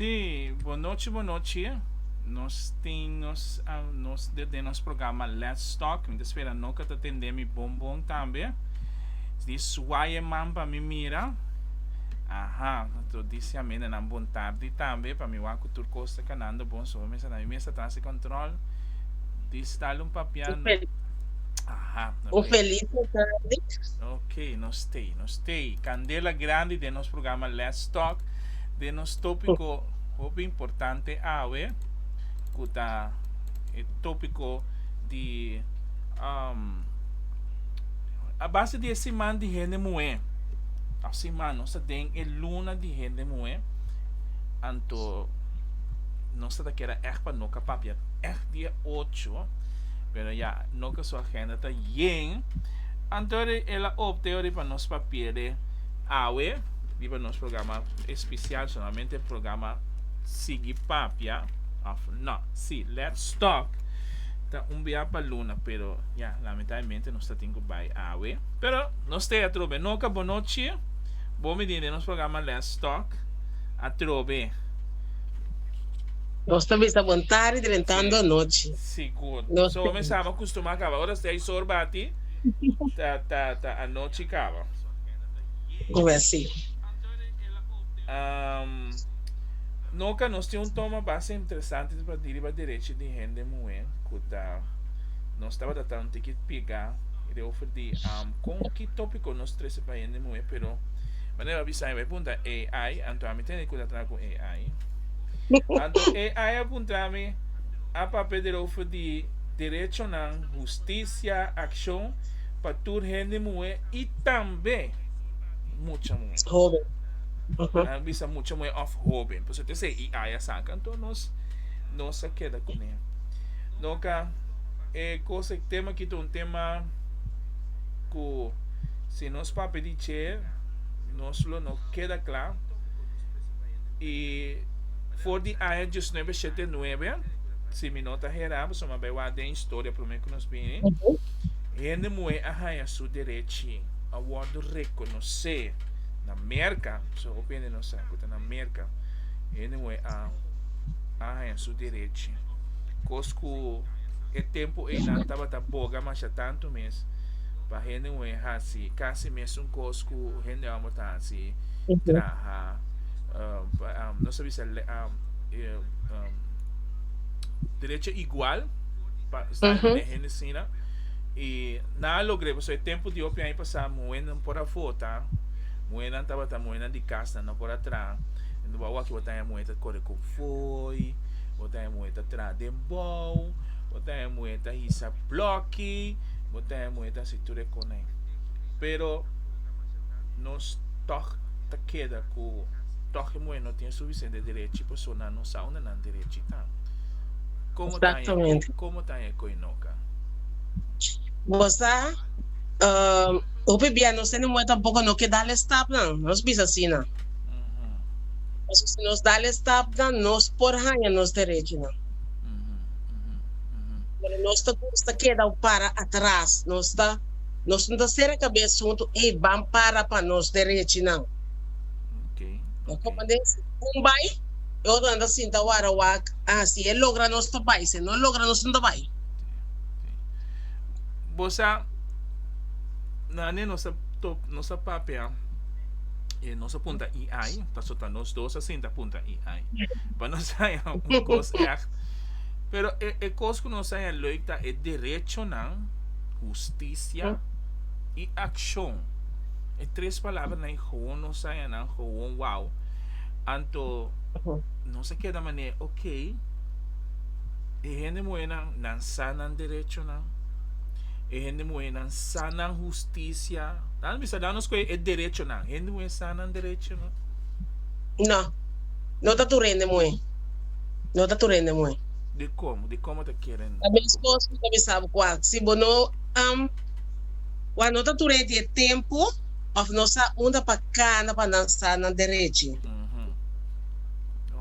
Si, bo nochi bo nochi. Nos tin nos. Dit den nos programa Let's Talk. Mi ta spera no ka ta tende mi bon bon tambe. Di suaye man pa mi mira. Aha, to disi amé nenan bon tardi tambe. Pa mi wak ku tur kos ta kanando bon so mester na mi mes atras di control. Dis dal un papia. Un fel. Aha. Un feliz dia tardi. Ok, no stay, no stay. Candela grandi den nos programa Let's Talk. Den nos topiko hopi importante awe. cu ta e tópico di um, a base di e siman di hende muhé. Ta siman nos ta den e luna di hende muhé, anto nos ta ta keda ègt pa no kapapia ègt dia ocho, pero ya no ka su agenda ta yen, anto ori el a opte ori pa nos papia de awe riba nos programa especial solamente programa sigui papia. Of no, si, Let's Talk ta un bia pa luna pero ya lamentablemente nos ta tin cu bay awe. Pero nos ta atrobe no ka bo no che bo mi tin den nos programa Let's Talk atrobe. Nos ta bisa bo un tardi drentando un nochi. Sigur. Nos So mi sama custuma caba ora stay sor bati ta ta ta anochi caba. Oe si. Um. Noka nos tin un toma basta interesante di prata di riba derechi di hende muhé ku ta nos tabata ta un tiki pigá i ta ofer di kon ki tópiko nos trese pa hende muhé pero manera bo a bisa mi bai punta AI anto ami ta hende ku ta traha ku AI anto AI a puntra mi a papia der ofer di derechonan hustisia akshon pa tur hende muhé i tambe mucha muhé. Nan a bisa mucha muhé òf hóben, pasobra ta esei i aya saka, anto nos nos a keda kuné. No ka e kos e tema aki ta un tema ku si nos papia di dje nos lo no keda kla i for di aya diesnuebe shete nuebe, si mi no ta herá, pasobra mi a bai wak den historia promé ku nos bini, hende muhé a haña su derechi, a wòrdu rekonosé. na Merka, so hopi hende no sa ku ta na Merka. Hende moe a a haña su derechi. Kos ku e tempu einan tabata boga masha tantu mes pa hende moe hasi kasi mesun kos ku hende ámbò ta hasi, traha, um, pa, um, nos a bisa le- um, eh, um, derecho igual pa sta Ujú. na hende sina. I nan a logr'é, paso e tempu di hopi aña pasá Muhernan por a vota, muhernan tabata muhernan di cas nan no por a traha, enton bo a wak bo ta haya muher ta corre cu fooi, bo ta haya muher ta traha den bou, bo ta haya muher ta hisa bloki, bo ta haya muher ta haci tur e conai, pero nos tog ta keda cu tog e muher no tin e suficiente derechi pasobra nan no sa unda nan derechi ta, como ta haya e coy, como ta haya e coy noka. Bo sa. Uh, hopi bia nos tene moe tampoco no ke dale stapnan, nos bisa asina. Paso si nos dale stapnan, nos por haña nos derechonan. Pero nos ta gusta keda o para atras, nos ta, nos no ta sera kabes huntu, ey, ban para pa nos derechonan. No como de si un bay, e otronan ta sinta wara wak, ah, si e logra nos ta bay, si e no logra nos no ta bay. Bo sa, nane nos a top, nos a papia, e nos a punta i ai, paso ta nos dos a sinta punta i ai. Pa nos haya un kos echt. Pero e, e kos ku nos haya leuk ta e derechonan, hustisia i akshon. E tres palabranan i gewoon nos haya nan, gewoon wow. Anto nos a keda manera, ok, E hende muhénan, nan sa nan derechonan. E hende muhénan sa nan hustisia. Nan bisa dá nos kue e derechonan. Hende muhé sa nan derechonan? No. No ta tur hende muhé. No ta tur hende muhé. Di como? Di como ta kere Ta meskos ku ta bisa bo kua. Si bo no am, kua no ta tur hende e tempu òf no sa unda pa kana pa nan sa nan derechi.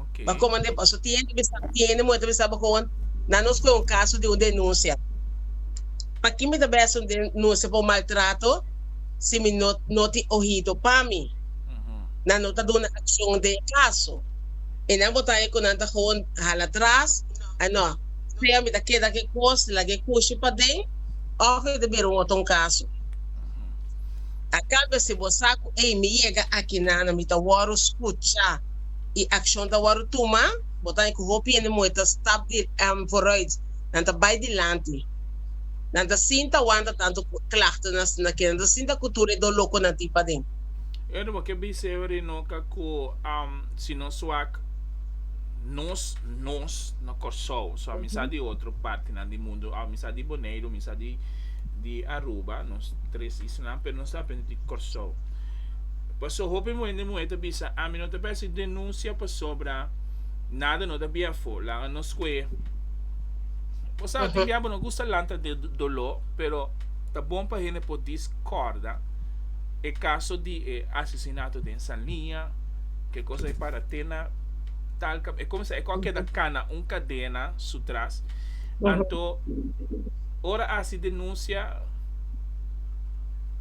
Okay. Ba como de paso tiene bisa tiene muerte bisa ba con na nos con un caso de un denuncia. Pa quien me da best un denuncia por maltrato si mi no no ti oído pa mi. Mm-hmm. Na no ta duna acción de caso. E nan botan e con nan ta gewoon hala atrás. Ah no, sea mi ta queda que cos la que cushi pa den of mi ta bira un otro un caso. A cambio si bo sa cu ey mi yega aki nana mi ta wordo scucha y accion ta wordo tuma, bo ta haña cu hopi hende moe ta stap di vooruit, nan ta bay dilanti, nan ta sinta wanta tanto clachten nan asina ke nan ta sinta cu tur e do loco nan tin paden. Eder bo ke bice ever y no ca cu si no suak nos nos na Corsou so a mi sa di otro partinan di mundo a mi sa di Boneiru mi sa di. di Aruba, nos tres islanan, pero nos ta aprende di Kòrsou. Paso hopi muhé den muhé ta bisa, ami no ta bay hasi denunsia pasobra nada no ta bia afó, laga nos ku'é. Bo sabe, tin bia bo no gusta lanta di doló, pero ta bon pa hende por diskorda e kaso di e asesinato den Sanliña, ke kos bai para te na Talca, e kuminsá, e kò a keda kana un kadena su tras, anto. Ora hasi denuncia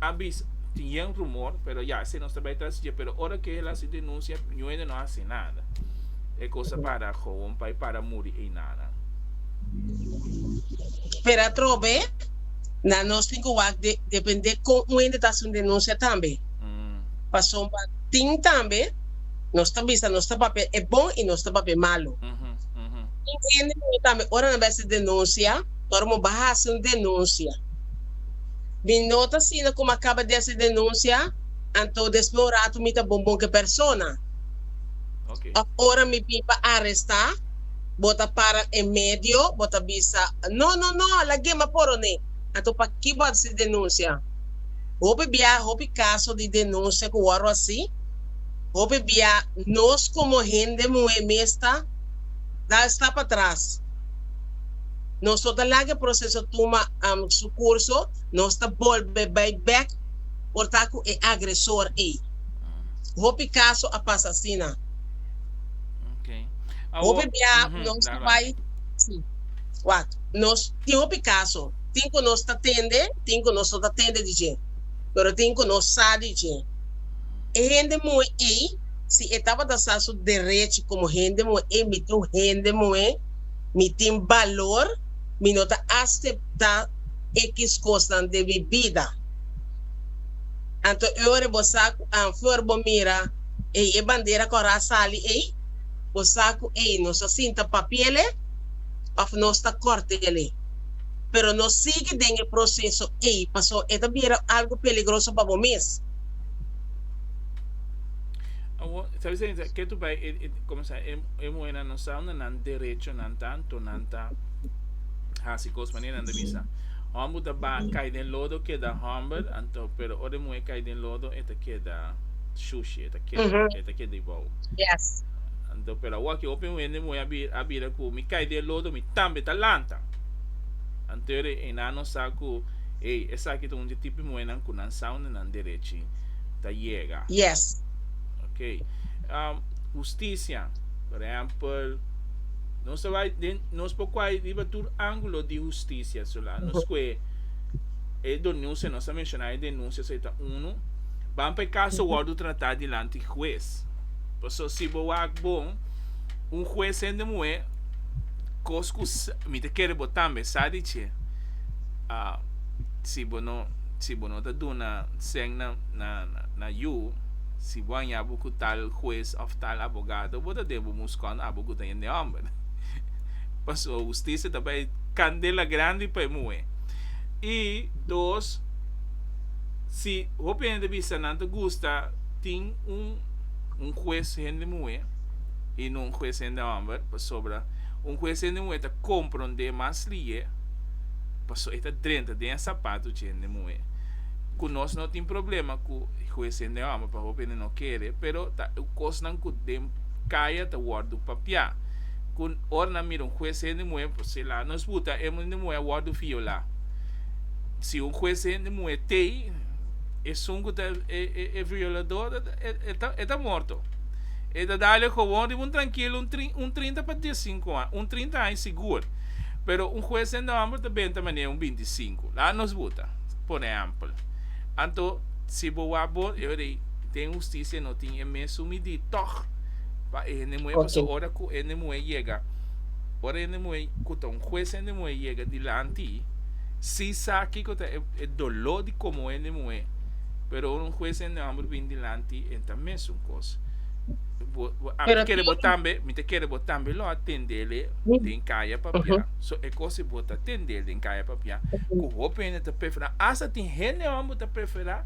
a bisa tin yen rumor pero ya esei nos ta bay tras dje pero ora ke el hasi denuncia nuende no hasi nada e cosa para gowon pay para muri ey nanan. Pero atrobe na nos tin cu wak depende con nuende ta hasi un denuncia tambe pasobra tin tambe nos ta bisa nos ta papia e bon y nos ta papia e malo tin hende tambe ora nan bay hasi denuncia. Ora mo ba hasi un denunsia. Mi no ta asina komo a kaba di hasi denunsia, anto despues un ratu mi ta bon bon ku e persona. Oke. Òf ora mi bin pa arestá, bo ta para e medio, bo ta bisa, No, no, no, lag'é mas por oné. Anto pakiko bo a hasi denunsia? Hopi biaha, hopi kaso di denunsia ku wòrdu hasi. Hopi biaha nos komo hende muhé mester da e stap atras. Nos lo ta laga e proceso tuma su curso, nos ta bolbe bay bek por ta cu e agresor ey. Hopi caso a pasa asina. Hopi bia nos ta bay, si, wak, nos tin hopi caso, tin cu nos ta tende, tin cu nos no ta tende di dje, pero tin cu nos sa di dje. E hende moe ey, si e tabata sa su derechi como hende moe ey, mi tin un hende moe, Mi tin balor, mi no ta aseptá ekis kosnan den mi bida. Anto e ora bo sa ku afor bo mira ei e bandera ku a ras sali ei, bo sa ku ei nos a sinta papiele òf nos ta kòrtele. Pero no sigui den e proseso ei pasó e ta bira algu peligroso pa bo mes. Usando nan derechonan tantu nan ta hasi kos manera nan ta bisa hòmber ku ta baha kai den lodo keda hòmber anto pero ora e muhé kai den lodo e ta keda shushi e ta keda e ta keda ibou anto pero awaki hopi hende muhé a bira a bira ku mi kai den lodo mi tambe ta lanta anto e nan no sa ku ey esaki ta un di tipo di muhénan ku nan sa unda nan derechi ta yega okay hustisia. Por ehempel, nos ta bai den, nos por kuai riba tur ángulo di hustisia. So la nos kue e donunsia, nos a menshoná e denunsia, so e ta unu. Ban pa e kaso wòrdu tratá dilanti hues. Paso si bo wak bon, un hues hende muhé, kos ku mi ta kere bo tambe sa di dje, si bo no, si bo no ta duna sèn na, na, na yu, si bo haña bo ku tal hues òf. Tal abogado bo ta den bo moes kon abo guta hende homber paso husticia ta bay candela grandi pa e muhe y dos si hopi hende bisa nan ta gusta tin un un hues hende muhe y no un hues hende homber pasobra un hues hende muhe ta compronde mas lie paso e ta drenta den e sapato chi hende muhe cu nos no tin problema cu hues hende homber. pa hopi hende no kere, pero ta e kosnan ku den kaya ta wòrdu papiá, ku ora nan mira un hues hende muhé por se la nos buta e hende muhé a wòrdu violá, si un hues hende muhé tei esun ku ta e violadó e ta morto, e ta dal e gowon riba un trankilo un trinta pa dies sinku aña, un trinta aña sigur, pero un hues hende hòmber ta benta manera un binti sinku, la nos buta por ehèmpel. Anto, si bo wak bon, e rei den husticia no tin e mes su midi tog pa e hende muhé, pasobra Okay. ora cu e hende muhé yega, ora e hende muhé cu ta un hues hende muhé yega dilanti, si sa kico ta e e doló di comohé hende muhé, pero ora un hues hende homber bini dilanti e ta mes un cos. Bo bo a Pero kere tin bo tambe, mi ta kere bo tambe lo atendele den caya pa bia. Ujú. So e cos y bo ta tende den caya papia cu hopi hende ta prefera hasta tin hende homber ta prefera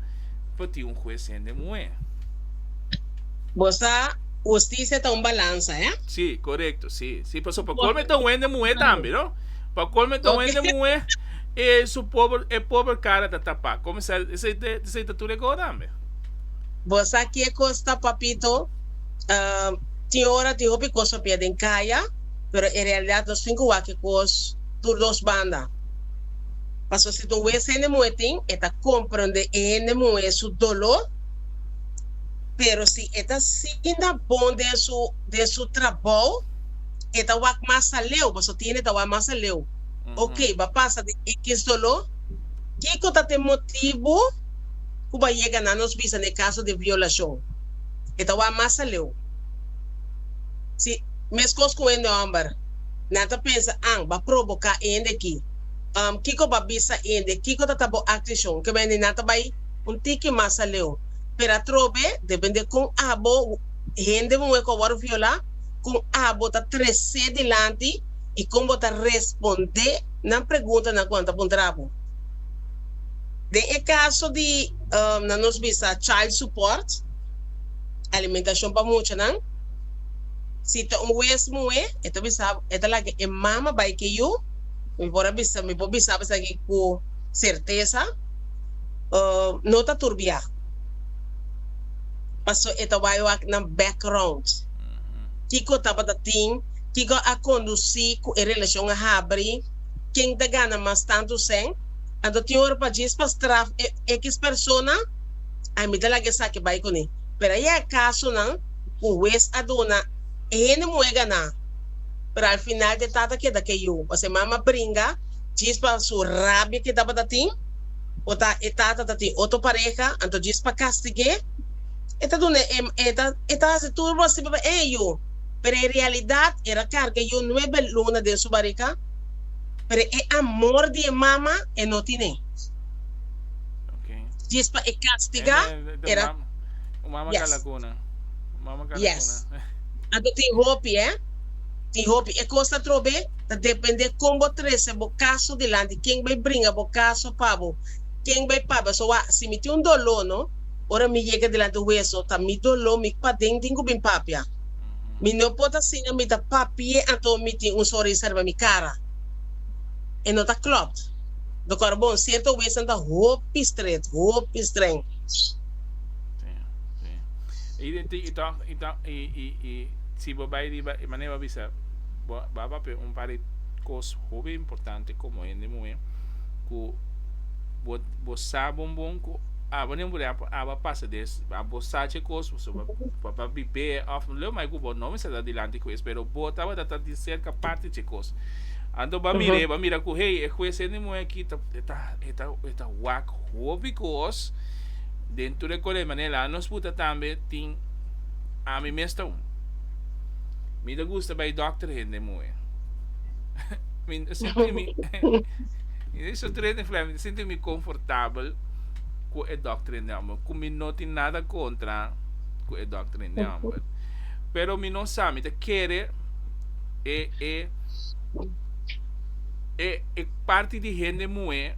pa tin un hues hende muhe. Bo sa husticia ta un balanza he. Si corecto si si paso pa colme ta un hende muhe tambe no pa colme ta un hende muhe y su pober e pober cara ta tapa como esa esey ta tur e go tambe. Bo sa kiecos ta papito tin ora tin hopi cos papia den caya. pero e realidad lo sin cu wak-e cos tur dos banda. Pasobra si tur wes hende muhe tin, e ta comprende e hende muhe su dolor, pero si e ta sinda bon den su, den su trabou, e ta wak mas aleu, pasobra tin hende ta wak mas aleu. Ok, ba pasa den ekis dolor, kico ta t'e motibu cu ba yega na nos bisa n'e caso di violacion? E ta wak mas aleu. Si. Mescos cu hende homber, nan ta pensa, An ba provoca e hende aki. Um, kico ba bisa e hende? Kico ta ta bo acticion? Ke bendi nan ta bay un tiki mas aleu. Pero atrobe, depende con abo hende un week a worde viola, con abo ta trece dilanti y con bo ta responde nan preguntanan cu nan ta puntra bo. Den e caso di, um, nan nos bisa child support, alimentacion pa muchanan, Si ta un wes muhé, e ta bisa, e ta laga e mama bai ke yu, mi por a bisa, mi por bisaba esaki ku sertesa, no ta turbiá, paso e ta bai wak na background. Kiko tabata tin? Kiko a kondusí ku e relashon a habri? Ken ta gana mas tantu sèn? Anto tin ora pa djis pa straf e X persona? Ami ta laga esaki bai kuné. Pero a yega kasonan. ku wes a duna e hende muhé ganá, pero al final te tata keda KO. Pas e mama bringa djis pa su rabia ke tabata tin o ta e tata ta tin otro pareha, anto djis pa kastig'é e ta duna e e ta e ta hasi tur bo sibi pa eh yu, pero e realidat er a karga yu nuebe luna den su bariga, pero e amor di e mama e no tin'é, djis pa e kastiga er a. Un mama yes. calacuna. Un mama calacuna. Yes. Anto tin hopi, eh? Tin hopi. E cos ta trobe, ta depende con bo trece bo caso dilanti, ken bay bringa bo caso pa bo, ken bay papia. So wak, si mi tin un dolor, no? Ora mi yega dilanti hues, no? Ta mi dolor, mi paden tin cu bin papia. Mi no por ta siña mi ta papi'e anto mi tin un soris ariba mi cara. E no ta klopt. Dokter Bon, cierto huesnan ta hopi stret, hopi streng. Y de ti, y toch, y toch, y, y, y, si bo bay riba, y mané bo bisa, bo, ba papia un par de cos hopi importante como hende muhe, cu bo, bo sa bon bon cu aba nen buri apa, aba pasa des, a bo sa ce cos, so bo, bo ba bibé, of lo mai cu bo no bisa ta dilanti cu es, pero bo tabata ta di cerca parti ce cos. Anto ba mir'é, ba mira cu hey, e hues hende muhe aki ta, e ta, e ta, e ta wak hopi cos. den tur e kore manera nos puta tambe tin ami mes ta un mi ta gusta bai doctor hende moe mi ta sinti mi so tur hende fla mi ta sinti mi confortabel cu e doctor hende amber cu mi no tin nada contra cu e doctor hende amber pero mi no sa mi ta kere e e e e parti di hende moe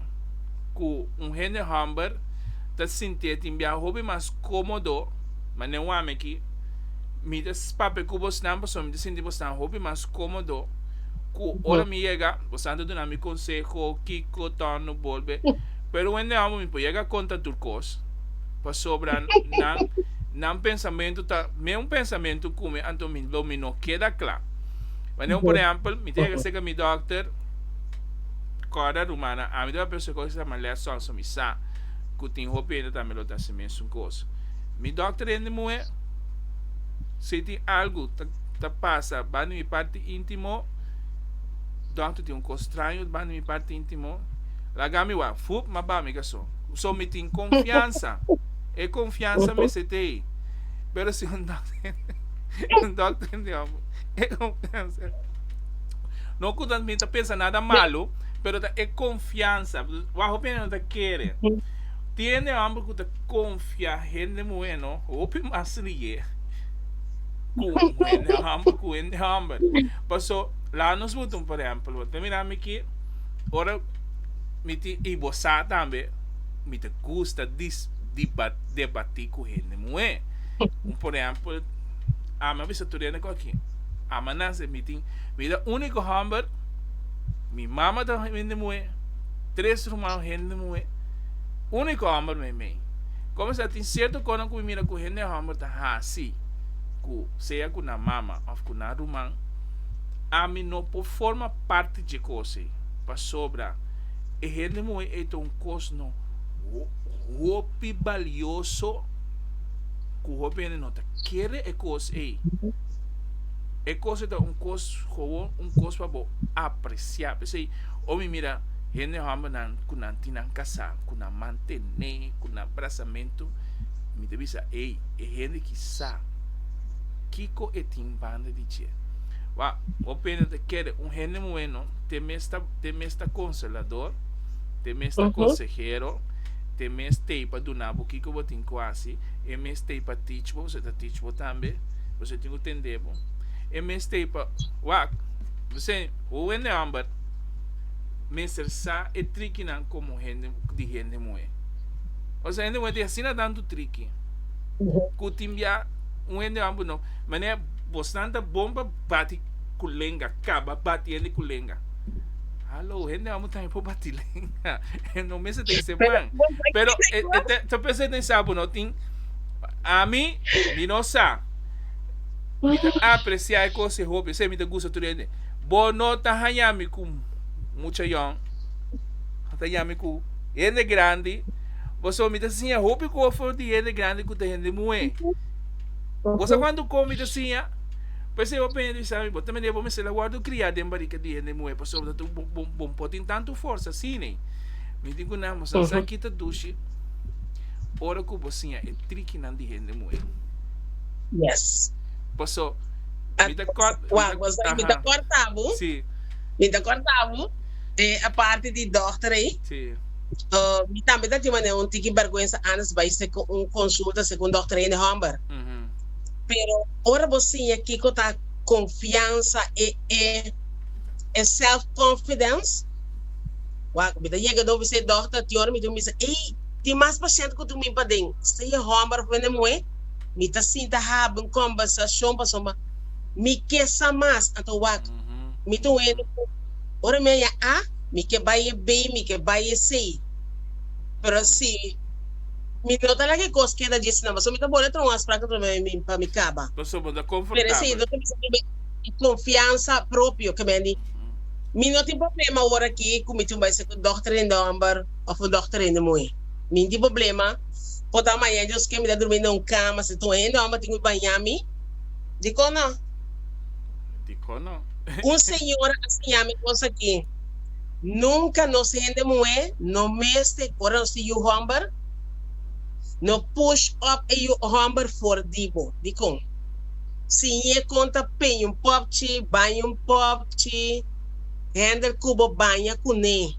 cu un hende amber ta sintié tin bia hopi mas cómodo, ma ne wami aki mi ta papia cu bosnan pasobra mi ta sinti bosnan hopi mas cómodo cu ora mi yega, bosnan ta duna mi conseho kico torno bolbe, pero wende amo mi por yega a conta tur cos pasobra nan nan pensamento ta mesmo pensamento cu mi anto mi lo mi no keda cla. Wanneer por ehempel mi ta yega cerca mi dokter, corda rumana, ami ta papia su cos y ta sama lessons. Mi sa cu tin hopi hende tambe lo ta hasi mesun cos. Mi dokter hende muhe. Si tin algu ta ta pasa banda di mi parti intimo, dokter tin un cos straño banda di mi parti intimo. Laga mi wak fup ma bami caso. So mi tin confiansa. E confiansa mester t'ey. Pero si un dokter hende, un dokter hende hopi e confiansa. No cu ta mi ta pensa nada malo. pero ta e konfiansa. Wak hopi hende no ta kere. Tiene homber ku ta konfia hende muhé no hopi mas riye ku hende homber ku hende homber. Paso laga nos mutu un por ehempel. Bo ta mira mi aki ora mi tin i bo sa tambe mi ta gusta dis diba debati ku hende muhé. Un por ehempel ami a bisa tur hende ku aki ama nan se mi tin mi ta uniko homber. Mi mama ta hende muhé, tres rumannan hende muhé, úniko hòmber meimei. Kon mester a tin sierto kosnan ku mi mira ku hende hòmber ta hasi ku sea ku nan mama òf ku nan ruman, ami no por forma parti dje kos ei. Pasobra e hende muhé ei ta un kosnan hopi balioso ku hopi hende no ta kere e kos ei. E kos ei ta un kos gewoon, un kos pa bo apresia. P'esei, ora mi mira hende hòmbernan ku nan tin nan kasá, ku nan mantené, ku nan brasamentu, mi ta bisa, ei, e hende ki sa kiko e tin banda di dje. Wak, bo pende ta kere un hende bueno, te mes ta, te mes ta konselador, te mes ta konsehero, te mes t'ei pa duna bo kiko bo tin ku hasi, e mes t'ei pa teach bo, bo ta teach bo tambe. Boso tin cu tende bo. E mes t'ey pa wak. Mi sey, Ho wende homber mester sa e trikinan como hende di hende moe. Osa hende moe tin asina tantu triki cu tin bia un hende homber no. Mane, bosnan ta bon pa bati cu lenga, caba bati hende cu lenga. Hallo, hende homber tambe por bati lenga. E no mester t'ey seman. Pero e ta pensa e ta esabo no tin. Pa ami, mi no sa. Mi ta apreciá e cos e hopi, esei mi ta gusta tur hende. Bo no ta haña mi cu mucha yòn, bo ta haña mi cu hende grandi, pasobra mi ta siña hopi cosnan di hende grandi cu ta hende muhé. Bo sa cuantu cos mi ta siña? Pues e hopi hende bisa mi, Bo ta mende bo mester a wòrdu cria den barrica di hende muhé, pasobra bo no tin tantu forsa asina. Mi di cu nan, bo sa sa ki ta dushi? Ora ku bo siña e trikinan di hende muhé. Yes. Paso mi ta kort. Wak paso mi ta korta bo. Si. Mi ta korta bo. E aparte di dokter ei. Si. Mi tambe ta tin manera un tiki bèrgwensa antes bai segun un konsulta segun un dokter hende hòmber. Pero ora bo siña kiko ta konfiansa e e self confidence. Wak mi ta yega dor bisé dokter ti ora mi ta bisa ei. Tin mas pashent ku durmi paden. Sea e hòmber òf wende muhé, mi ta sinta haba un kòmbersashon pasobra mi ke sa mas. Anto wak mi ta wende ku ora mi a haña A, mi ke bai e B, mi ke bai e C. Pero si mi no ta laga e kos keda dje asina pasobra mi ta bole tròba un afsprak atrabes pa mi kaba. Pasobra ta konfortabel. Pero si mi ta mester tin e konfiansa propio ke mi a di, Mi no tin problema ora aki ku mi tin bai ser ku dòkter den hòmber. Of un dokter hende muhé. Min tin problema, por ta maña Dios ke mi ta durmí na un kama si ta un hende homber tin cu baña mi? Dicon no? Dicon no? Un señora a siña mi cos aki, Nunca nos hende muhé no mester ora nos tin yu homber, no push up e yu homber for di bo. Dicon? Siñ'é con ta peña un popchi, baña un popchi, handle cu bo baña cun'é.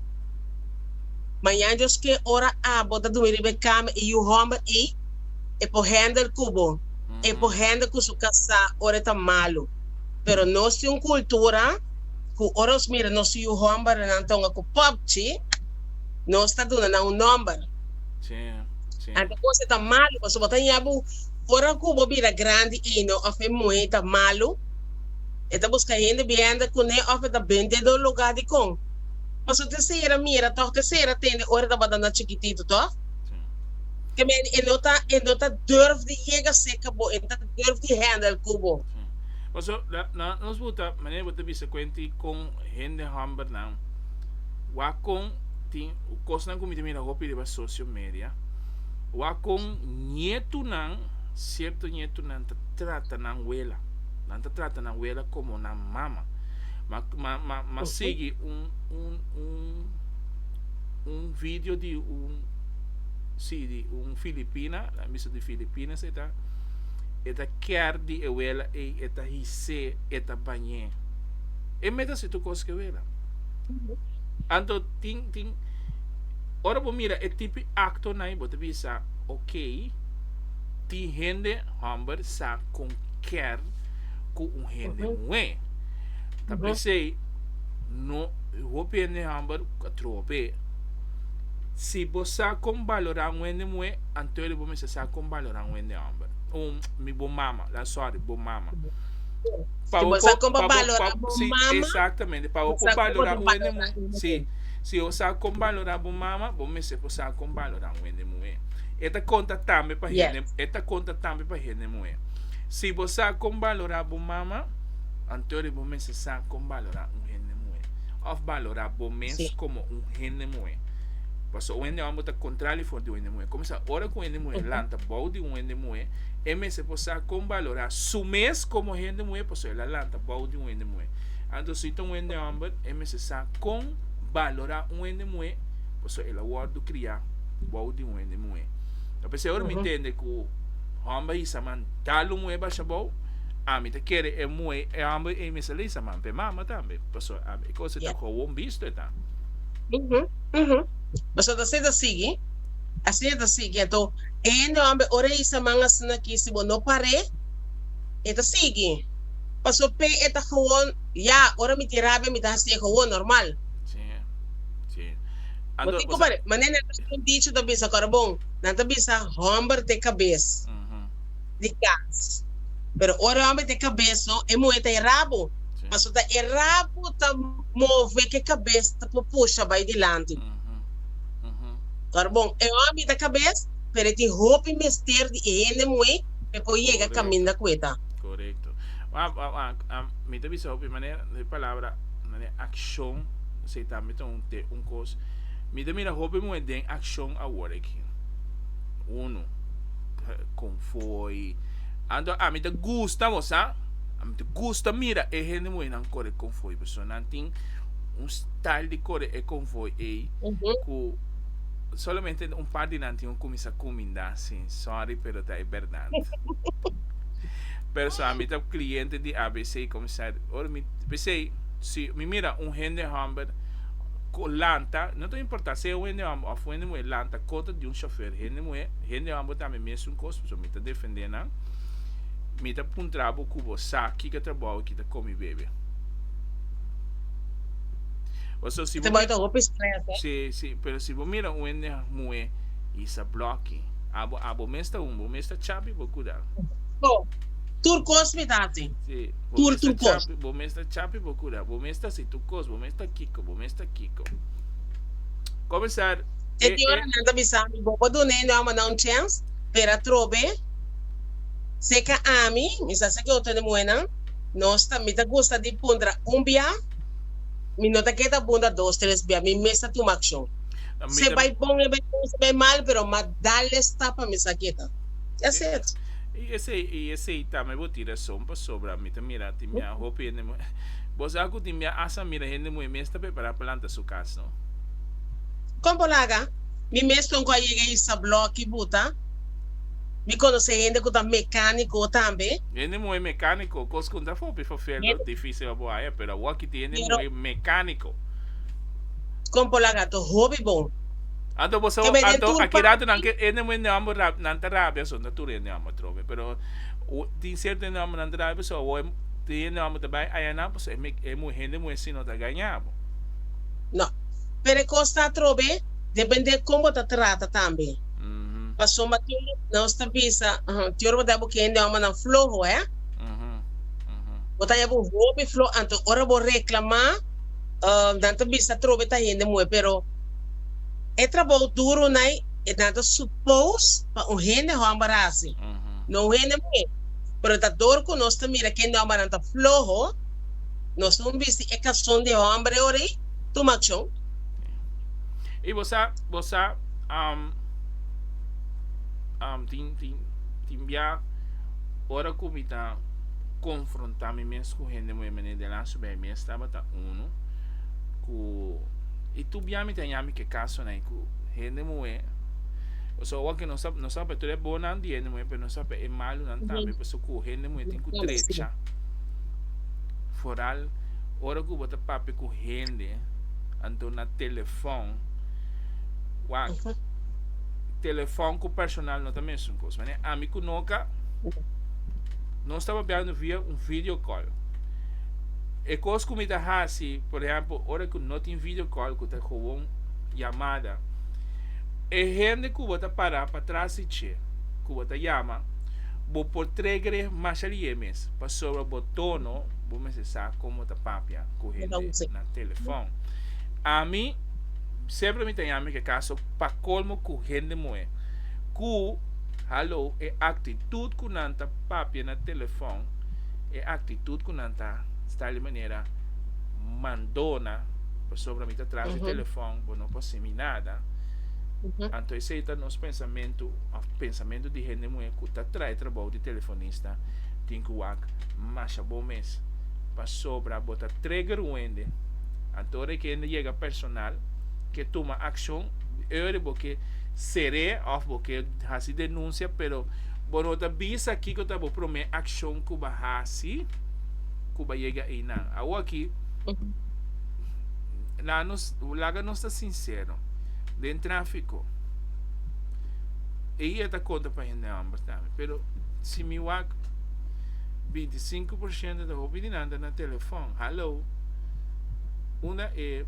Mañan diosk'é ora abo ta dumi riba e kama, e yu hòmber ei e por hènder ku bo, e por hènder ku su kasá ora e ta malu. Pero nos tin un kultura ku ora nos mira nos yu hòmbernan ta un a ku pòpchi, nos ta duna nan un nòmber. Anto kos ei ta malu, pasobra bo ta ña bo ora ku bo bira grandi eino òf e muhé ei ta malu, e ta buska hende bihènder kuné òf e ta bende dor lugá. Dikon? Paso tesera mira tog tesera tende ora tabata na chikitito tog ke men e no ta e no ta durf di yega cerca bo e no ta durf di handel cu bo. Paso la na nos buta manera bo ta bisa cuenti con hende homber nan wak con tin cosnan cu mi ta mira hopi riba socio media wak con nietunan cierto nietunan ta trata nan wela nan ta trata nan wela como nan mama Ma, ma, ma, ma Ujú. sigui un, un, un, un video di un, sí, di un Filipina, la misa di Filipinas e ta, e ta kier di e wela ei, e ta hisé, e ta bañé. E mester hasi tur kos ku e wela. Anto tin, tin, ora bo mira e tipi aktonan ei, bo ta bisa, ok, tin hende hòmber sa kon kier ku un hende Ujú. muhé. Ta Ujú. pesey, no, hopi hende hamber cu a troha p'e. Si bo sa con balora un hende muhe, anto el bo mester sa con balora un hende hamber. Un, mi, bo mama, la, sorry, bo mama. Si bo sa con pa balora bo si, mama, exactamente. Pa bo bo por sa con balora otro un hende balora muhe, un si, hende. si bo sa con balora bo mama, bo mester por sa con balora un hende muhe. E ta conta tambe pa hende, Yes. e ta conta tambe pa hende muhe. Si bo sa con balora bo mama, Anto di bo mester sa kon balorá un hende muhé, òf balorá bo mes komo un hende muhé. Paso un hende òm bo ta kontrá di for di un hende muhé. Kòm sa ora ku un hende muhé lanta bou di un hende muhé, e mester por sa kon balorá su mes komo hende muhé paso el a lanta bou di un hende muhé. Anto si ta un hende hòmber e mester sa kon balorá un hende muhé paso el a wòrdu kriá bou di un hende muhé. Ta p'esei ora mi tende ku hòmber a hisa man dal un muhé basha bou. Ami ta kere e muhé e homber ey mester lesa man p'e mama tambe, pasobra ami e cos eta gewoon bisto eta. Uhu, uhu. Pasobra asina e ta sigui, asina e ta sigui. Anto e hende homber ora e isa man asina aki si bo no par'é, e ta sigui. Pasobra p'e e ta gewoon, ya, ora mi tin rabia mi ta haci'é gewoon, normal. Sí, sí. Bo tin cu par'é, manera nan ta haci un dicho ta bisa, acorda bon, nan ta bisa homber t'e cabes. Uhu. di gas. Pero ora homber ta e cabes lo, e muhe ta e rabo. Paso ta e rabo ta move cu e cabes ta por pusha bay dilanti. Ora bon, e homber ta cabes, pero e tin hopi mester di e hende muhe pe por yega caminda cu e ta. Corecto. Mi ta bisa hopi manera, e palabra accion esey tambe ta un cos. Mi ta mira hopi muhe den accion awor aki. Uno. Kon fo'i anto ami ta gusta bo sa ami ta gusta mira e hende moe nan kore kon fo'i pasobra nan tin un style di kore e kon fo'i ei ku solamente un par di nan tin ku kuminsá kuminda sin sòri pero ta e bèrdat pero so ami ta kliente di abc kuminsá ora mi p'esei si mi mira un hende hòmber ku lanta no ta importa si e un hende hòmber òf un hende muhe lanta kontra di un shofèr hende muhe. Hendeman bo tambe mesun kos, pasobra mi ta defendé nan. Mi ta puntra bo ku bo sa kiko trabou aki ta komi bebe. Pasobra si bo mira, si, si, pero si bo mira un hende muhé i sa blòki, abo, abo mes ta un, bo mes ta chapi bo kuda. Bo, tur kos mi ta hasi. Si, bo mes ta chapi, bo mes ta chapi bo kuda. Bo mes ta hasi tur kos, bo mes ta kiko, bo mes ta kiko. Komensar. E di ora nan ta bisa mi, Bo por dun'é no homannan un chèns, pero atrobe, si e ka ami, mi sa saki otro di muhénan, nos ta, mi ta gusta di puntra un bia, mi no ta ke ta puntra dos, tres bia, mi mes ta tuma akshon. Si e bai bon, e bai bon, si e bai mal, pero m'a dal e stap pa mi sa ke ta. That's it. I esei, i esei ta mi bo tin rason pasobra mi ta mira tin bia hopi hende muhé. Bo sa ku tin bia, asa mira hende muhé mes ta prepará pa lanta su kas, no? Kon bo laga? Mi mes lo ngua yega isa blòki bu ta? Mi konosé hende ku ta mekániko tambe. Hende muhé mekániko kos ku no ta hopi fafèldo, difísil pa bo haña, pero awor aki tin hende muhé mekániko. Kon bo laga? Ta hopi bon. Anto bo sa, anto aki rato nan ke hende muhé nòmber rap, nan ta rabi aso, no tur hende nòmber atrobe, pero tin sierto hende nòmber nan ta rabi aso, awor tin hende nòmber ta bai haña nan, pasobra e hende muhé si no ta gaña bo. No. Pero e cos ta atrobe, depende con bo ta trata tambe. Pasobra tur nos ta bisa, Di ora bo ta abo ki hende homanan floho, eh? Bo ta abo hopi floho, anto ora bo reclama, nan ta bisa atrobe ta hende moe. Pero e trabao duro nai, e nan ta suppose pa un hende homber haci, no un hende moe. Pero ta dor cu nos ta mira cu hende hombernan ta floho. Nos un bisti e kalson di e hòmber ora ei? Tuma akshon! Ei bo sa, bo sa, am, am, tin, tin, tin bia ora ku mi ta konfrontá mi mes ku hende moe manera den lasu bèi. Mi es tabata unu ku, i tur bia mi ta haña mi ke kasonan ei ku hende moe, o sea, owor ke nos ta, nos ta papia tur e bonan di hende moe, pero nos ta papia e malunan tambe, pasobra ku hende moe tin ku trecha. foral ora ku bo ta papia ku hende anto na telefòn wak telefòn ku personal no ta mesun kos manera ami ku Noka nos ta papiando via un video call e kos ku mi ta hasi por ehèmpel ora ku no tin video call ku ta kowon yamada e hende ku bo ta para pa tras di dje ku bo ta yama bo por trege mashali'é mes. Internet pasobra bo tono bo mester sa como ta papia cu hende na telefon. Ami sempre mi ta yami ke caso pa colmo cu hende moe cu hallo e actitud cu nan ta papia na telefon e actitud cu nan ta sta di manera mandona pasobra mi ta tras di telefon bo no por haci mi nada anto esey ta nos pensamentu of pensamentu di hende moe cu ta trae trabou di telefonista. ta tin cu wak masha bon mes pasobra bo ta trigger un hende anto ora e ki hende yega personal ke tuma accion eur bo ke sere of bo ke haci denuncia pero bo no ta bisa kico ta bo prome accion cu ba haci cu ba yega eynan awo aki laga nos laga nos ta sincero den trafico ey e ta conta pa hende homber tambe. Pero si mi wak binti sinku por shento ta hopi di nan ta na telefon. Hallo. Unda e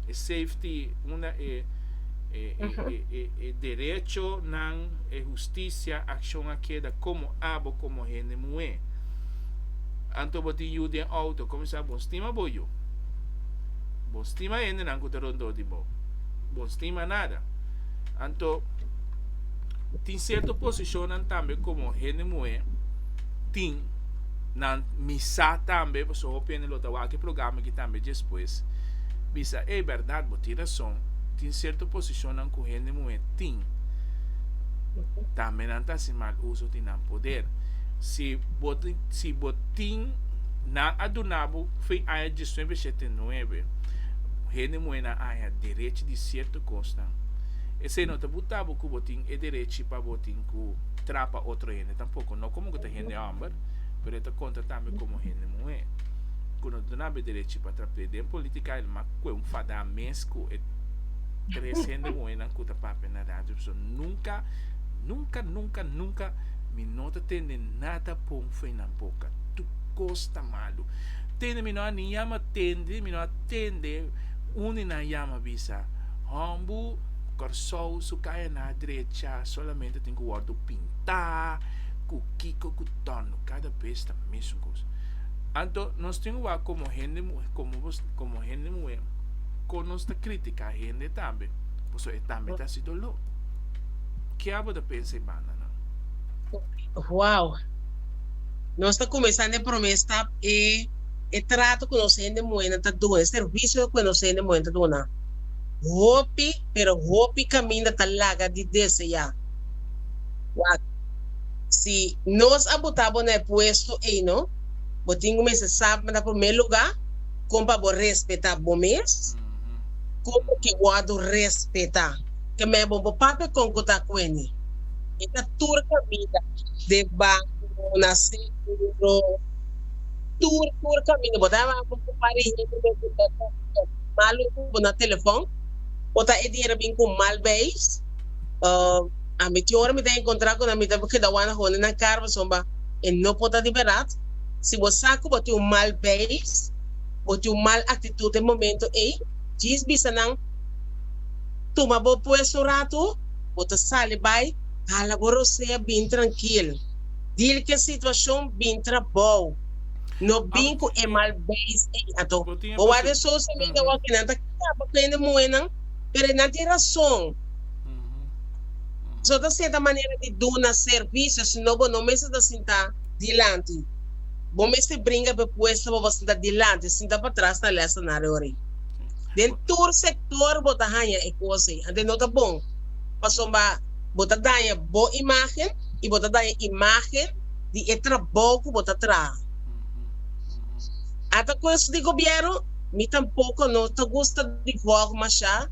e safety, unda e e e e derechonan, e hustisia akshon a keda komo abo, komo hende muhé? Anto bo tin yu den outo, komo sa bo stima bo yu? Bo stima hendenan ku ta rondó di bo? Bo stima nada. Anto. Tin sierto posishonnan tambe komo hende muhé tin nan misá tambe, pasobra hopi hende lo ta wak e programa aki tambe despues bisa, e bèrdat bo tin rason, tin sierto posishonnan ku hende muhé tin tambe nan ta hasi mal uso di nan poder. Si bo si bo tin nan a duna bo fin aña diesnuebe shete nuebe hende muhénan aña derech di sierto kosnan. Esei no ta buta bo ku bo tin e derechi pa bo tin ku trapa otro hende tampoko, no komo ku ta hende hòmber, pero e ta konta tambe komo hende muhé, ku no dunaba e derechi pa trap'é. Den politika el mak kue un fadá mes ku e tres hende muhénan ku ta papia na radio. P'esei nunka, nunka, nunka, nunka mi no ta tende nada bon for nan boka. Tur kos ta malu. Tende mi no a ni yama tende, mi no a tende uni nan yama bisa. Hombu Kòrsou su kayaná drecha solamente tin ku wòrdu pintá ku kiko ku tòrnu kada bes ta mesun kos. Anto nos tin wak komo hende muhé komo bo komo hende muhé kon nos ta kritiká hende tambe paso e tambe ta hasi doló. Ke abo ta pensa e banda nan? Wow! Nos ta kumesá n'e promé stap e e trato ku nos hende muhénan ta duna, e servisio ku nos hende muhénan ta duna. Hopi, pero hopi kaminda ta laga di deseá. Wak, Si nos a botá bo na e puesto eino, bo tin ku mester sab na promé lugá kon pa bo respetá bo mes, kon bo ke wòrdu respetá. Ke mei bo bo papia kon ku ta kueni. E ta tur kaminda, den banku, na seguro, tur tur kaminda. Bo ta haña bo ku parihita, bo ku tata, bo ku. Malo cu bo na telefon. Bo ta e dier a bin cu mal beis. A mi tin ora mi ta encontra cu nan mi ta keda wanda hondi nan car pasobra bo e no por ta di berdad. Si bo sa cu bo tin un mal beis, bo tin un mal actitud den momento ey, djis bisa nan, tuma bo puesto un ratu, bo ta sali bay, hala bo rosea, bin trankil. Dil cu e situacion, bin trabao. No bin ku e mal beis ei ato. Bo wak den social media wak e nan ta kaba ku hende muhe nan, pero e nan tin rason. Eso ta serta manera di duna servisio, si no bo no mester ta sinta dilanti. Bo mester bringa p'e puesto pa bo sinta dilanti, sinta patras ta lèsa na reorí. Den tur sektor bo ta haña e kos ei, anto e no ta bon, pasobra bo ta daña bo imágen i bo ta daña imágen di e trabou ku bo ta traha. Ata kost di gobièrnu, mi tampoko no ta gusta di wòk mashá,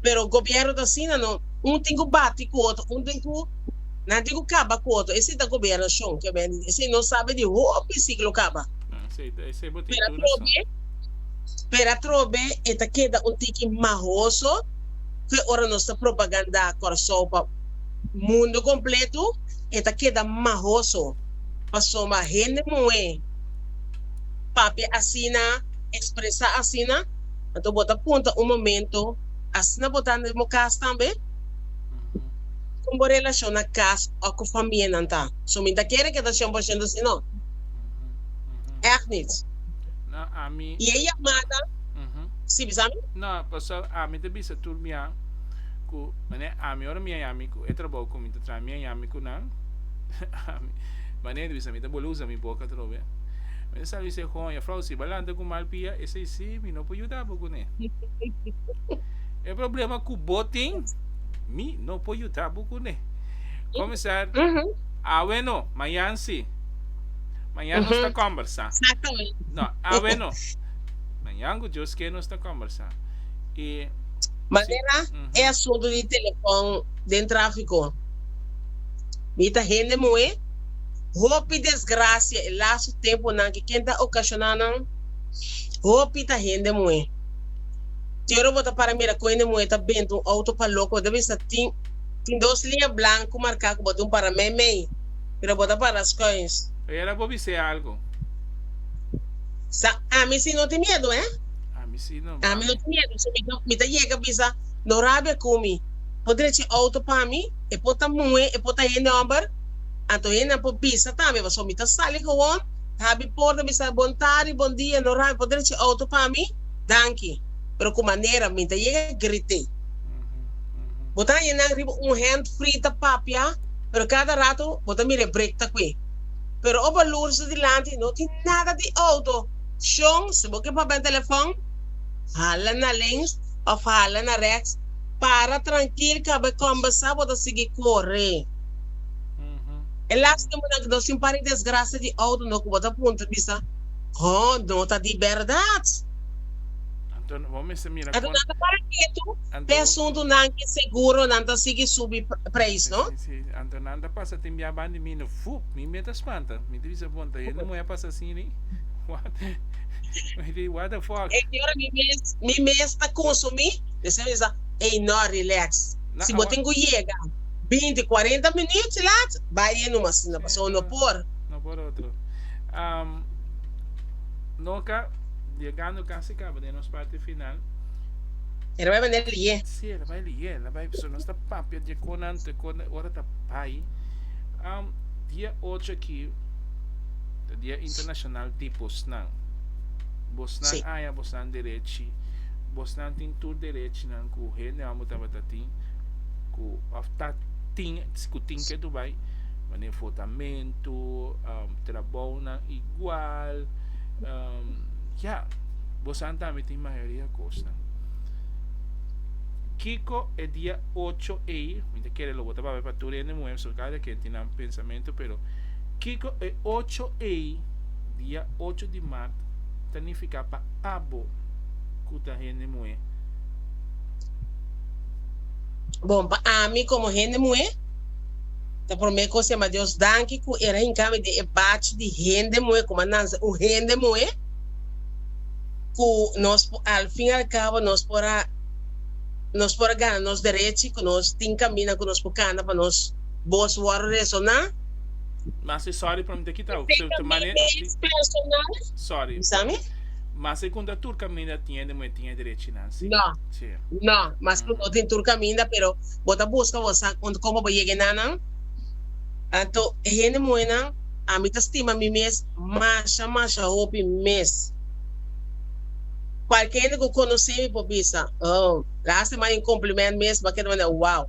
pero gobièrnu ta asina no, un tin ku bati ku otro, un tin ku, nan tin ku kaba ku otro, esei ta gobièrnashon ku e bini di, esei no sabi di hopi siklo kaba. Pero atrobe, pero atrobe e ta keda un tiki mahoso ku e ora nos ta propagandá Kòrsou pa mundu kompletu. E ta keda mahoso pasobra hende muhé papia asina, expresa asina. Anto bo ta punta un momento, asina bo ta den bo cas tambe? Con bo relacion na cas o cu famianan ta? So mi ta kere keda cien por ciento así? No. Echt niet. No, ami. Y e yamada, sí, bisa mi? No, pasobra ami ta bisa tur mian cu mane ami ora mi a yami cu e trabou cu mi. También ami cu nan. Ma ney ta bisa mi ta bole usa mi boca atrobe. Mi ta sabi se hoña, Frau, si ba lanta cu mal pia, esey si mi no por yuda bo cu ne. E problema cu bo tin, mi no por yuda bo cu ne. Comisar, Aweno, mayan si. Mayan nos ta combersa. No, aweno. Mayan cu Dios kier nos ta combersa. Y. Manera e asunto di telefon. den tráfiko. Mi ta hende muhé. Hopi desgrasia e lasu tempunan ke ken ta okashoná nan, hopi ta hende muhé. Tero bo ta para mira ku hende muhé ta benta un outo pa loko, bo ta bisa tin tin dos liña blanku marká ku bo ta un para meimei, pero bo ta para skuins. Ayera bo bis'é algu. Sa ami si no tin miedu, eh? Ami si no, Ami no tin miedu, so mi ta yega bisa, no rabia ku mi. Por drecha e auto pa mi, e por ta muhe, e por ta hende homber, anto hendenan por bisa tambe bo, so mi ta sali gewoon, ta habi porta, mi sa bon tardi, bon dia, no rabi, por drecha e auto pa mi, danki, pero ku manera mi ta yega grite. Bo ta haña nan riba un hand free ta papia, pero kada rato bo ta mira e break ta kue. Pero o bo loer su dilanti, no tin nada di auto, shon, si bo ke papia n'telefon, hala na links of hala na rechts, Para trankil kaba e kòmbesá bo ta sigui kore. E las tempunan ke nos tin par e desgrasia di outo no ku bo ta puntra bisa, Hò, no ta di bèrdat? Anto nan ta para ketu p'e asuntunan ke seguro nan ta sigui subi preis, no? Esei mester ey no relax si bo tin cu yega binti cuarenta minutos laat bay ey numa asina pasobra no por. No por otro no ka yegando casi caba den nos parti final. E ta bay manda lie. Si e ta bay lie e ta bay pasobra nos ta papia di conan te con e ora ta bay dia ocho aki ta dia internacional di bosnan bosnan aya bosnan derechi. Bosnan tin tur derechnan ku hende amo tabata tin, ku òf ta tin, ku tin ke tur bai, manera fotamentu, um, trabounan igual, um, ya, bosnan tambe tin mayoria kosnan. Kiko e dia ocho ei, mi ta kere lo bota papia pa tur hende muhé, pasobra kada ken tin nan pensamentu, pero kiko e ocho ei, dia ocho di mart, ta nifiká pa abo cu ta hende muhe? Bon, pa ami como hende muhe, ta prome cos siamba Dios danki cu era hincami den e bachi di hende muhe, como a nansa un hende muhe, cu nos por, al fin al cabo nos por a, nos por a gana nos derechi, cu nos tin camina cu nos por canta pa nos boz worde resona. Masi sorry por mi ta kita abo, pero ta mane. Efectamente, personal. Sorry. Bisa mi? Mas e cunta tur caminda tin e de muhe tin e derechinan si. No. Si. No. Mas cu no tin tur caminda pero bo ta busca bo sa con como bo yega enanan. Anto e hende muhenan ami ta stima mi mes masha masha hopi mes. Cualkier hende cu conoce mi por bisa oh lastima hay un compliment mes bo a keda manda wow.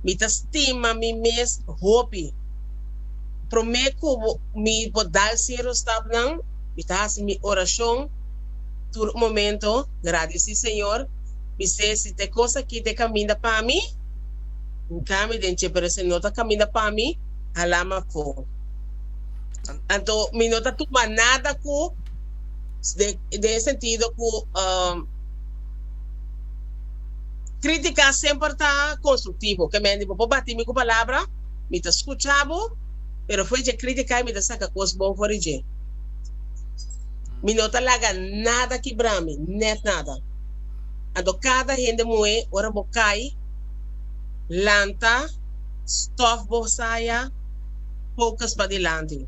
Mi ta stima mi mes hopi. Promé ku mi por dal sierto stapnan, mi ta hasi mi orashon tur momento, gradisí Señor, mi sey si te kos akí ta kaminda pa mi, N kami den dje, pero si no ta kaminda pa mi, hala m'afó. Anto mi no ta tuma nada ku den e sentido ku krítika semper ta konstruktivo, ke mende bo por batí mi ku palabra, Mi ta scucha bo, pero fo'i dje criticai mi ta saca cos bon for di dje. Mi no ta laga nada kibra mi, net nada. Anto cada hende muhe ora bo cai, lanta, stof bo saya, focus padilanti.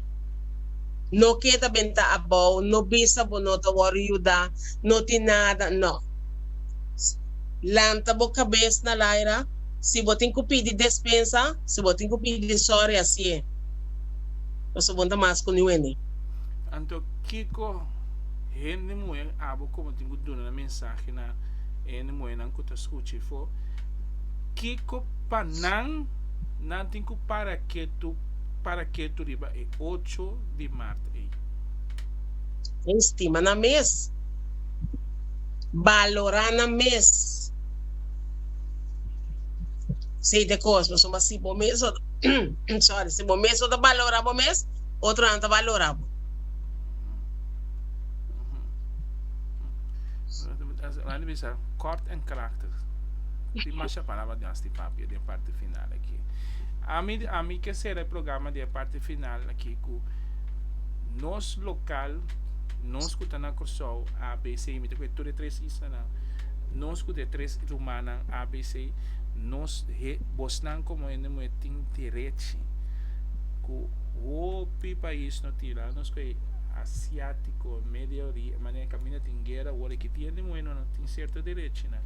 No keda ben ta abou, no bisa bo no ta wor yuda, no tin nada, no. Lanta bo cabes na laira. Si bo tin cu pidi despensa, si bo tin cu pidi sori, asi e. Pasobra bon ta mas cu niuende. Anto, kico hende muher abo como tin cu duna nan mensahe na e hende muhernan cu ta scucha i fo? Kico pa nan nan tin cu para ketu para ketu riba e ocho di maart ey? Ey stima nan mes. Balora nan mes. Sei ta e cos, pasobra si bo mes no ta, sorry, si bo mes no ta balora bo mes, otronan ta balora bo. Mandi mi sa, kort en krachtig. Tin masha palabra den asti papia, den parti final aki. Ami, ami ke sera e programa den parti final aki ku nos lokal, nos ku ta na Kòrsou, ABC, mi ta ku e tur e tres isla nan. Nos cu de tres rumannan abc nos he bosnan como hende muhe tin derechi cu hopi pais no tin la nos cu e asiatico e media ori e manera e caminda tin guera awor e kiti hende muhe no no tin cierto derechinan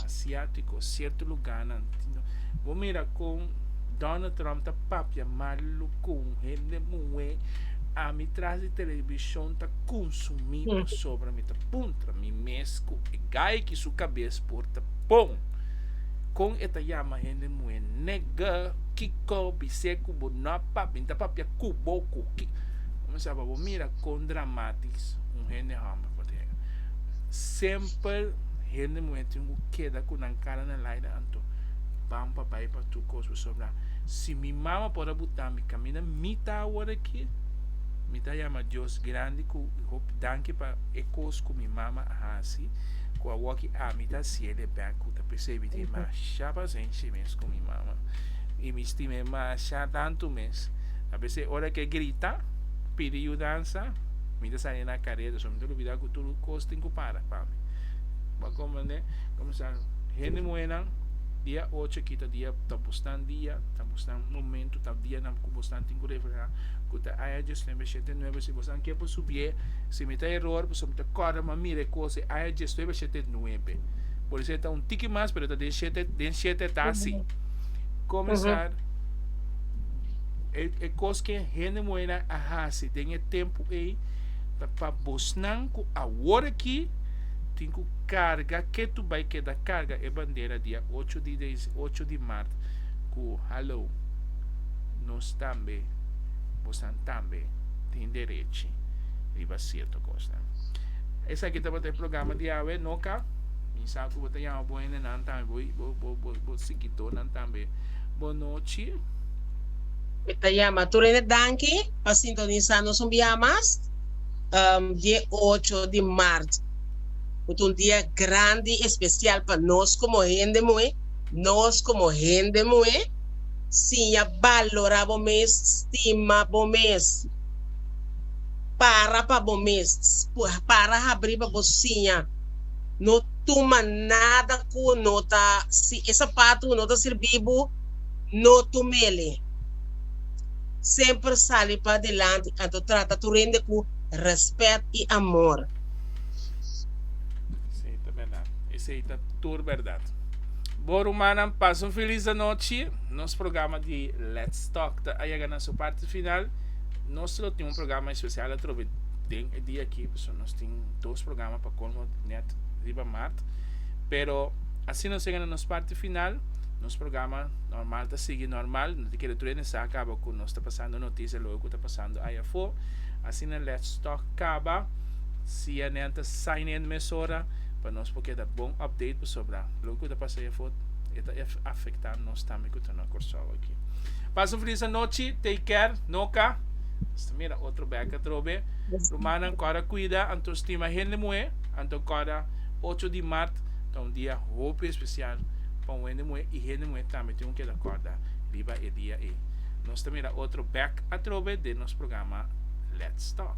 asiatico cierto lugarnan tin bo mira con Donald Trump ta papia malu con hende muhe ami tras di television ta consumi pasobra mi ta punto. contra mi mes cu e gai ki su cabes por ta pon con e ta yama hende muhe nega kico bisé cu bo no a pap mi ta papia cubo cu ki comenzaba bo mira con dramatis un hende homber por ta yega semper hende muhe tin cu keda cu nan cara na laida anto ban pa bay pa tur cos pasobra si mi mama por a butami caminda mi ta awor aki mi ta yama Dios grandi cu Mi hopi danki pa e kos ku mi mama a hasi ku a wòk i ami ta hasiel e bèk ku ta persebi tin masha pasenshi mes ku mi mama i mi stima e masha tantu mes abes e ora ku e grita pidi yudansa mi ta sali na kareda so mi ta lubida ku tur kos tin ku para pa mi bo a komprende kumsa hende muhé nan dia ocho aki ta dia ta bosnan dia ta bosnan momentu ta dianan ku bosnan tin ku reflehá ku ta aña dioslember shete nuebe si bo. San ke por subié, si mi ta eror, pasobra mi ta kòrda ma mira e kos e aña diesnuebe shete e nuebe. Por esei ta un tiki mas, pero ta den shete, den shete ta así. Komensar e e kos ke hende muheinan a hasi den e tempu ei ta pa bosnan ku awor aki tin ku karga ketu bai keda karga e bandera dia ocho di des ocho di mart ku hallo nos tambe bosnan tambe. tin derechi riba sierto kosnan. Esaki tabata e programa di awe, no ka? Mi sa ku bo ta yama bo hendenan tambe, bo, bo, bo, bo, bo sikitornan tambe. Bo no chil? Mi ta yama tur hende danki pa sintonisá nos un bia mas. Um, di e ocho di mart bo ta un dia grandi, espesial pa nos komo hende muhé, nos komo hende muhé. siña balora bo mes, stima bo mes. Para pa bo mes, para habri pa bo siña, no tuma nada cu no ta, si e sapatu no ta sirbi bo, no tumele. Semper sali padilanti, anto trata tu rende cu respet y amor. Esey ta berdad. Esey ta tur berdad. Bo rumannan pas un filis anochi. Nos programa di Let's Talk ta a yega na su parti final. Nos lo tin un programa especial atrobe den e dia aki. Pasobra nos tin dos programa pa colmo net riba mart. Pero asina nos yega na nos parti final. Nos programa normal ta sigui normal. No ta kere tur ene sa caba cu nos ta pasando noticia loke cu ta pasando aya afo. Asina Let's Talk caba. CNN ta sign in mesora. pa nos por keda bon update pasobra loke ku ta pasa ei afo e ta afekta nos tambe ku ta na Kòrsou aki. Pasa un feliz anochi, take care, noka. Hasta mira otro bek atrobe. Rumannan kòrda kuida, anto stima hende muhé, anto kòrda ocho di mart ta un dia hopi espesial pa un hende muhé i hende muhé tambe tin ku keda kòrda riba e dia ei. Nos ta mira otro bek atrobe den nos programa Let's Talk.